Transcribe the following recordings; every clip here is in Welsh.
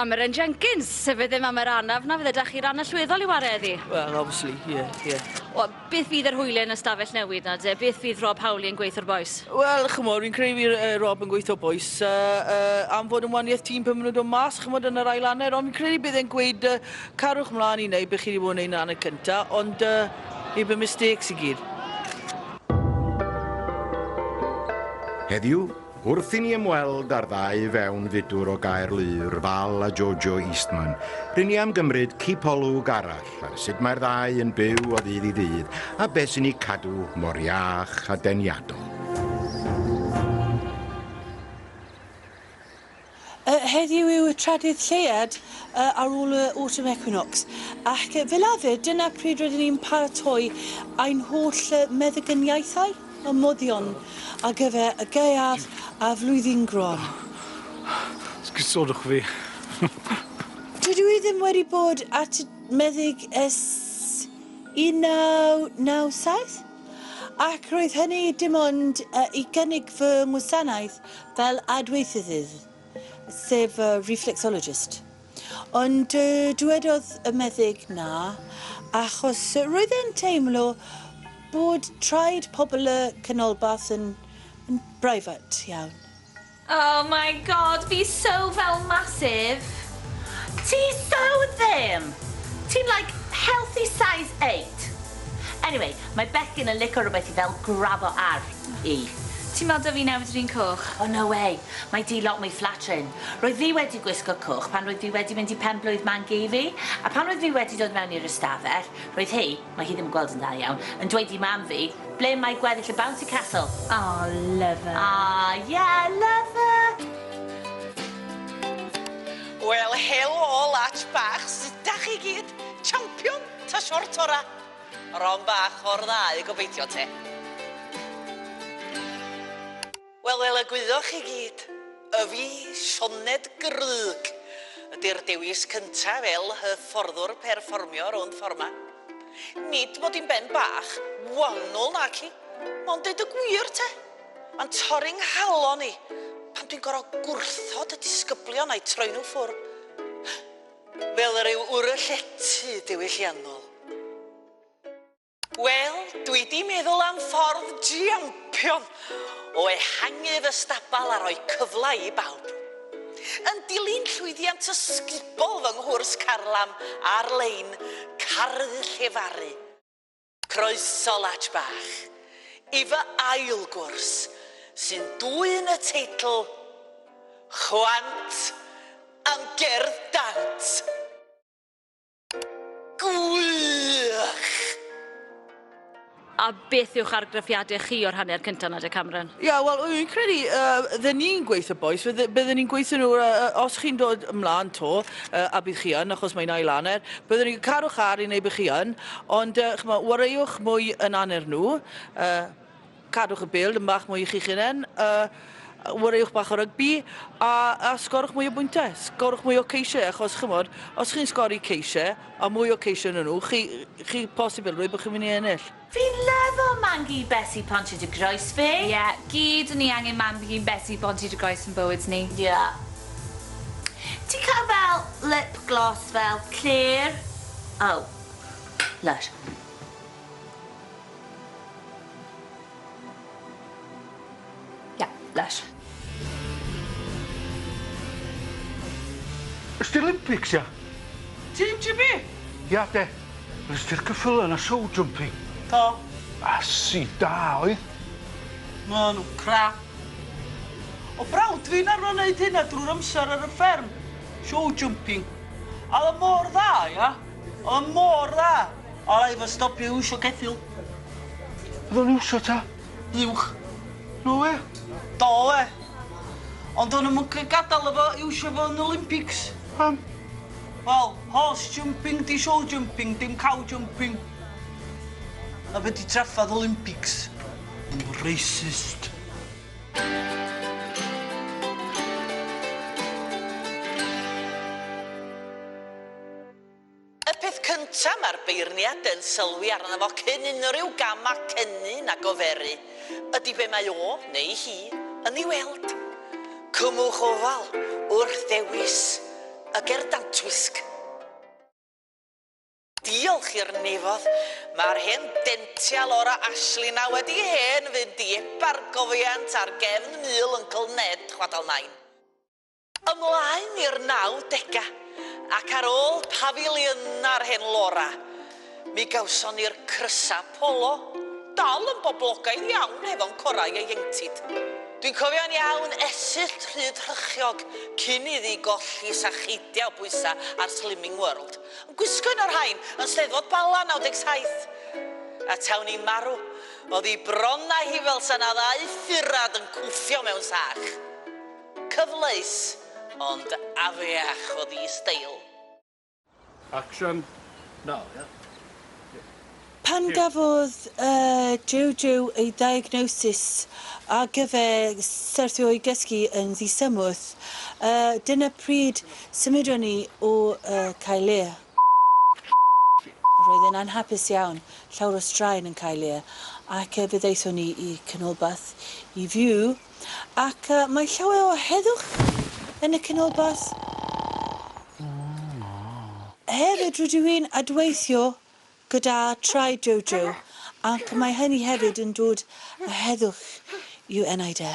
Cameron Jenkins, sef fe ddim am yr anaf na fydde da chi ran allweddol i ware eddi? Well, obviously, yeah, yeah. Wel, beth fydd yr hwyl yn ystafell newid na de? Beth fydd Rob Howley yn gweithio'r boes? Wel, chymod, fi'n credu fydd uh, Rob yn gweithio boes uh, uh, am fod yn waniaeth tîm pan maen nhw'n dod mas, chymod, yn yr ail anner, ond fi'n credu bydd e'n gweud uh, Cariwch mlan i neu be chi di bod yn neud yn hanner cynta ond yy neu be mistakes i gyd. Heddiw, wrth i ni ymweld â'r ddau fewn fudwr o Gaerlŷr, Val a Jojo Eastman, rŷn ni am gymryd cipolwg arall ar sut mae'r ddau yn byw o ddydd i ddydd a beth sy'n eu cadw mor iach a deniadol. Yy heddiw yw y trydydd lleuad yy ar ôl y autumn equinox ac yy fel arfer dyna pryd rydyn ni'n paratoi ein holl yy meddygyniaethau a moddion ar gyfer y gaeaf a'r flwyddyn gron. Sgusodwch fi. Dydw i ddim wedi bod at y meddyg ers 1997. Ac roedd hynny dim ond i gynnig fy ngwasanaeth fel adweithyddydd, sef reflexologist. Ond dywedodd y meddyg na, achos roedd e'n teimlo bod traed pobl y canolbarth yn brifat iawn. Oh my God, fi so fel massive. Ti so ddim! Ti'n like healthy size eight. Anyway, mae bechgyn yn lico rwbeth i fel grabo ar i. Ti'n meddwl 'da fi newid yr un coch? Oh no way, mae di lot mwy flattering. Roedd fi wedi gwisgo coch pan roedd fi wedi mynd i pen-blwydd Mangi fi, a pan roedd fi wedi dod mewn i'r ystafell, roedd hi, Mae hi ddim yn gweld yn dda iawn. Yn dweud i mam fi, ble mae gweddill y bouncy castle? Aww love her. Aww yeah love her. Wel helo lats bach sut dach chi gyd? Champion ta short ora? Ron bach o'r ddau gobeithio te. Wel, fel y gwyddoch chi gyd, y fi, Sioned Grug, ydy'r dewis cyntaf fel hyfforddwr perfformio rownd ffor'ma. Nid mod i'n ben bach, wanwl naci, ond deud y gwir te, mae'n torri 'nghalon i pan dwi'n gor'o' gwrthod y disgyblion a'u troi nhw ffwr'. Fel rhyw wr y llety diwylliannol. Wel, dwi 'di meddwl am ffordd jiampion o ehangu fy stabal a rhoi cyfle i bawb. Yn dilyn llwyddiant ysgubol fy nghwrs carlam ar-lein, Caru Llefaru, croeso Latch Bach, i fy ail gwrs, sy'n dwyn y teitl Chwant am Gerdd Dant! Gwych! A beth yw'ch argraffiadau chi o'r hanner cynta 'na de Cameron? Ie, yeah, wel, fi'n credu, uh, dde ni'n gweithio boys, fydde, bydde ni'n gweithio nhw, uh, uh, os chi'n dod ymlaen to, uh, a bydd chi yn, achos mae'n ail aner, bydde ni'n caru'ch ar i wneud bydd chi yn, ond, uh, chymod, wareiwch mwy yn aner nhw, uh, Cadwch y bêl dipyn bach mwy i chi'ch hunain, wariwch bach o rygbi a sgorwch mwy o bwyntiau, sgorwch mwy o ceisiau achos chymod, os chi'n sgori ceisiau a mwy o ceisiau yn nhw, chi, chi posibilrwydd bod chi'n mynd i ennill. Fi'n lyfo Mangi Besi Ponti dy groes fi. Ie, gyd ni angen Mangi Besi Ponti dy groes yn bywyd ni. Ie. Ti'n cael fel lip gloss fel clear? Oh. Lush. Ie, lesh. Ystyr Olympics, ia? Tîm GB? Ia, de. Yr ystyr cyffyle na show jumping. Do. Asi da oedd. Ma' nhw crap. O brawd fi'n arfer wneud hynna drwy'r amser ar y fferm. Show jumping. A oedd o mor dda, ia? Oedd o mor dda. A i fo stopio iwsio ceffyl. Odd o'n iwsio ta? Uwch. No wê. Do wê. Ond o'n i'm yn g- gadal o fo iwsio fo yn y Olympics. Pam? Wel, horse jumping 'di show jumping, dim cow jumping. A be' 'di traffarth Olympics? Racist. Y peth cyntaf mae'r beirniad yn sylwi arno fo cyn unrhyw gam ac ennyn ag oferu ydy be mae o, neu hi, yn ei weld. Cymwch ofal wrth ddewis y ger dantwisg. Diolch i'r nefodd, mae'r hen dential orau Ashley 'na wedi hen fynd i ebargofiant ar gefn Mul Yncl Ned, chwadal Nain. Ymlaen i'r naw dega, ac ar ôl Pafiliwn ar Hen Lora, mi gawson ni'r Crysa Polo, dal yn boblogaidd iawn hefo'n corau ieuenctid. Dwi'n cofio'n iawn esyllt Rhyddhrychiog cyn iddi golli sa cheidia o bwysa ar Slimming World. Yn gwisgo un o'r rhain yn Steddfod Bala 97. A taw ni'n marw, o'dd 'i bron a hi fel sa 'na ddau furad yn cwffio mewn sach. Cyfleus, ond afiach oedd ei steil. Action, now, yeah. Pan gafodd Jojo ei ddiagnosis ar gyfer syrthio i gysgu yn ddisymmwth, dyna pryd symudon ni o Caerlear. Roedd e'n anhapus iawn, llawr o straen yn Caerlear, ac fe ddaethon ni i Canolbarth i fyw ac mae llawer o heddwch yn y Canolbarth. Hefyd rydw i'n adweithio gyda Traed Jojo ac mae hynny hefyd yn dod â heddwch i'w enaid e.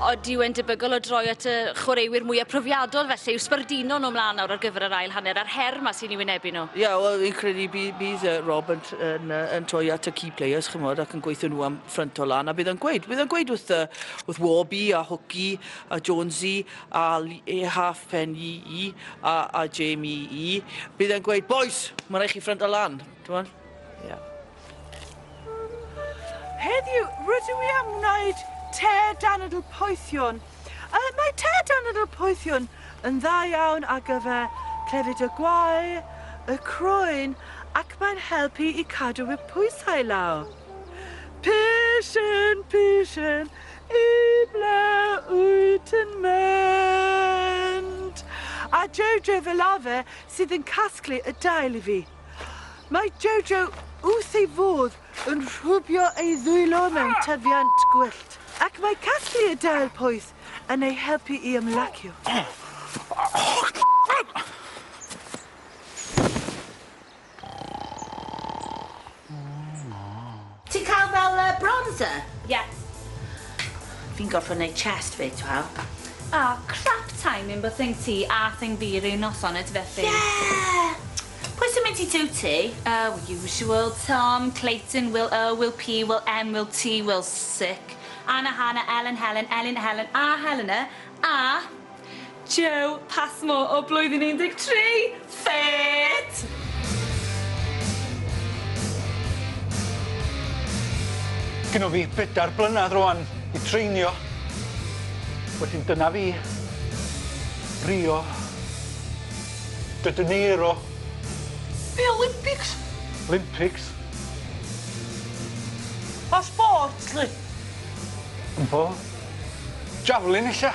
Oeddi yw'n debygol o droi at y chwaraewyr mwyaf profiadol felly yw sbardino nhw ymlaen nawr ar gyfer yr ail hanner a'r her yma sy'n ei wynebu nhw? Ie, yeah, wel, fi'n credu bydd, bydd uh, Rob yn, yn, uh, yn troi at y key players, chymod, ac yn gweithio nhw am ffrynt o lan, a bydd yn gweud, bydd yn gweud wrth, uh, wrth Warby a Hwci a Jonesy a e half pen i i a, a Jamie i, bydd yn gweud, boys, mae'n rhaid chi ffrynt o lan, ti'n Yeah. Heddiw, rydw i am wneud te danadl poethion. Uh, mae te danadl poethion yn dda iawn ar gyfer clefyd y gwae, y croen ac mae'n helpu i cadw y pwysau lawr. Pishyn, pishyn, i ble wyt yn mynd? A Jojo fel arfer sydd yn casglu y dail i fi. Mae Jojo wrth ei fodd yn rhwbio ei ddwylo mewn tyfiant gwyllt, ac mae casglu y dail poeth yn ei helpu i ymlacio. Ti'n cael fel yy bronzer? Ie. Fi'n gorffod neud chest fi to hell. Oh crap timing bod thing ti a thing fi ryw noson ydyfe Ffi? Yeah! Pwy sy'n mynd i dŵ ti? Oh usual, Tom, Clayton, Will O, Will P, Will M, Will T, Will Sic, Anna, Hannah, Ellen, Helen, Elin, Helen a Helena a Joe Passmore o Blwyddyn 13! Fit! Gynno fi bedair blynadd rŵan i treinio. Wedyn dyna fi. Rio. De Janeiro. Be' Olympics? Olympics. Pa sport 'lly? Wmbo. Javelin ella?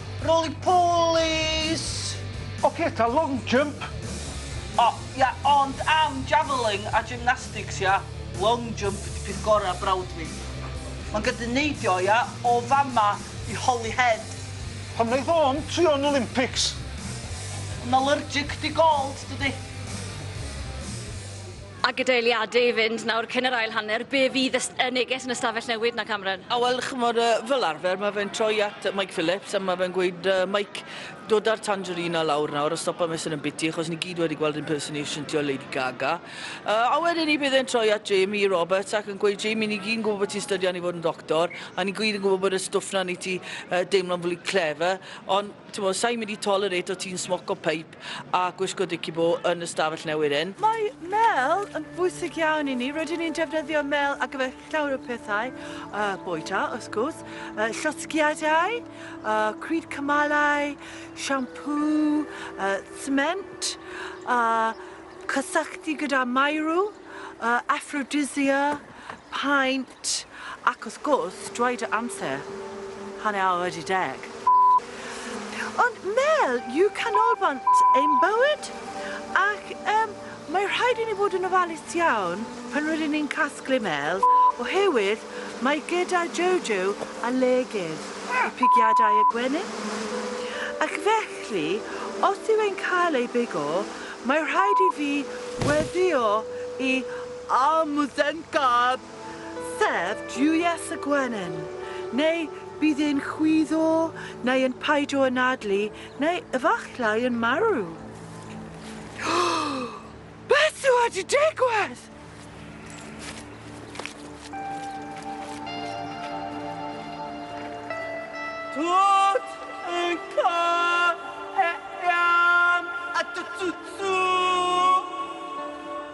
Roly polis! Oce ta long jump? O ia ond am javelling a gymnastics ia? Long jump di peth gora brawd fi. Ma'n gydyn neidio ia? O fama i Holyhead. Pam neith o'm trio'n Olympics? Yn allergic di gold dydi? A gyda eiliadau i fynd nawr cyn yr ail hanner, be fydd y neges yn y stafell newid 'na, Cameron? A wel, chimod, fel arfer, mae fe'n troi at Mike Phillips a mae fe'n gweud, Mike, dod â'r tangerine 'na lawr nawr a stopa mesur yn biti, achos ni gyd wedi gweld impersonation ti o Lady Gaga. A wedyn ni bydd e'n troi at Jamie Roberts ac yn gweud, Jamie, ni gyd yn gwybod bod ti'n stydian i fod yn doctor a ni gyd yn gwybod bod y stwff 'na yn neud ti deimlo'n fwy clever, ond, timod, sa i'n mynd i tolerate o ti'n smoco peip. siop a gwisgo dici-bo yn y stafell newydd hyn. Mae mêl yn bwysig iawn i ni. Rydyn ni'n defnyddio mêl ar gyfer llawer o pethau. Uh, boeta, wrth gwrs, uh, llosgiadau, uh, cryd cymalau, siampŵ, uh, cement, uh, cysylltu gyda maerw, uh, aphrodisia, paent, T, Ac wrth gwrs, dweud y amser, hanner awr wedi deg. T, Ond Mel yw canolbant ein bywyd ac yym mae rhaid i ni fod yn ofalus iawn pan rydyn ni'n casglu Mel oherwydd mae gyda Jojo alergedd i pigiadau y gwenyn ac felly os yw e'n cael ei bigo mae rhaid i fi weddïo i a Musen Gab, sef Duwies y Gwenyn, neu bydd e'n chwyddo, neu yn paidio anadlu, neu efallai yn marw. Beth sydd wedi digwydd? Tut yn cael ei am at y tutsu.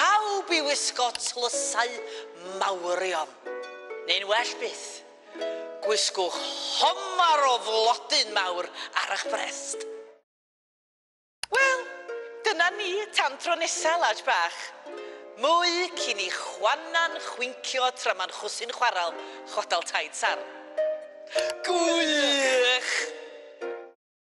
Pawb i wisgo tlysau mawrion, neu'n well byth, gwisgwch homar o flodyn mawr ar ych brest. Wel, dyna ni, tan tro nesa, Laj bach. Mwy cyn i Juana'n chwincio tra ma'n chwsu'n chwarel chwadal taid sarn. Gwych!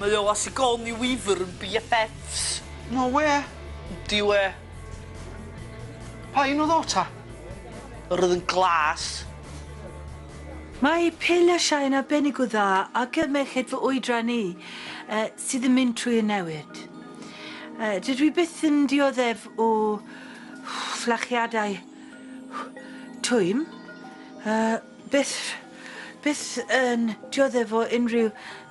Mae o a Sigourney Weaver yn BFFs. No wê! Yndi wê. Pa un oedd o ta? Yr oedd yn glas. Mae Pil a Shine arbennig o dda ar gyfer merched fy oedran i sydd yn mynd trwy y newid. Dydw i byth yn dioddef o fflachiadau twym, byth, byth yn dioddef o unrhyw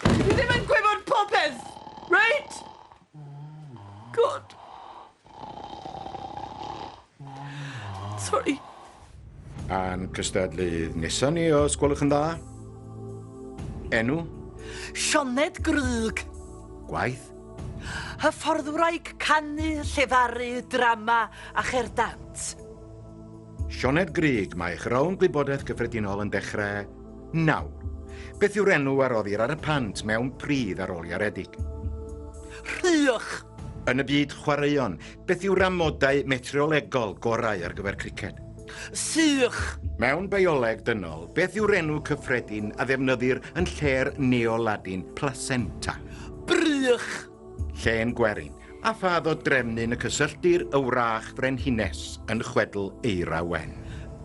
Dwi ddim yn gwybod popeth, reit? Good. Sori. A'n cystadlydd nesa ni, os gwelwch yn dda. Enw? Sioned Grug. Gwaith? Hyfforddwraig canu, llefaru, drama a cherdant. Sioned Grug, mae eich rownd gwybodaeth gyffredinol yn dechrau nawr. Beth yw'r enw a roddir ar y pant mewn pridd ar ôl iaredig? Rhych! Yn y byd chwaraeon, beth yw'r amodau metriolegol gorau ar gyfer criced? Sych! Mewn bioleg dynol, beth yw'r enw cyffredin a ddefnyddir yn lle'r Neo-Ladin placenta? Brych! Llên gwerin, a phad o drefnyn y cysylltir y wrach frenhines yn chwedl Eira Wen.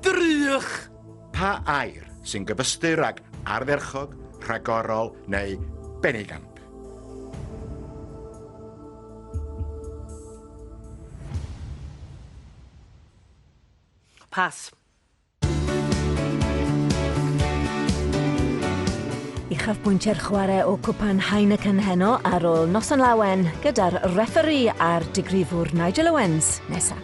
Drych! Pa air sy'n gyfystyr ag ardderchog, rhagorol neu benigamp? Pas. Uchafbwyntiau'r chwarae o Cwpan Heineken heno ar ôl noson lawen gyda'r refferî a'r digrifwr Nigel Owens nesaf.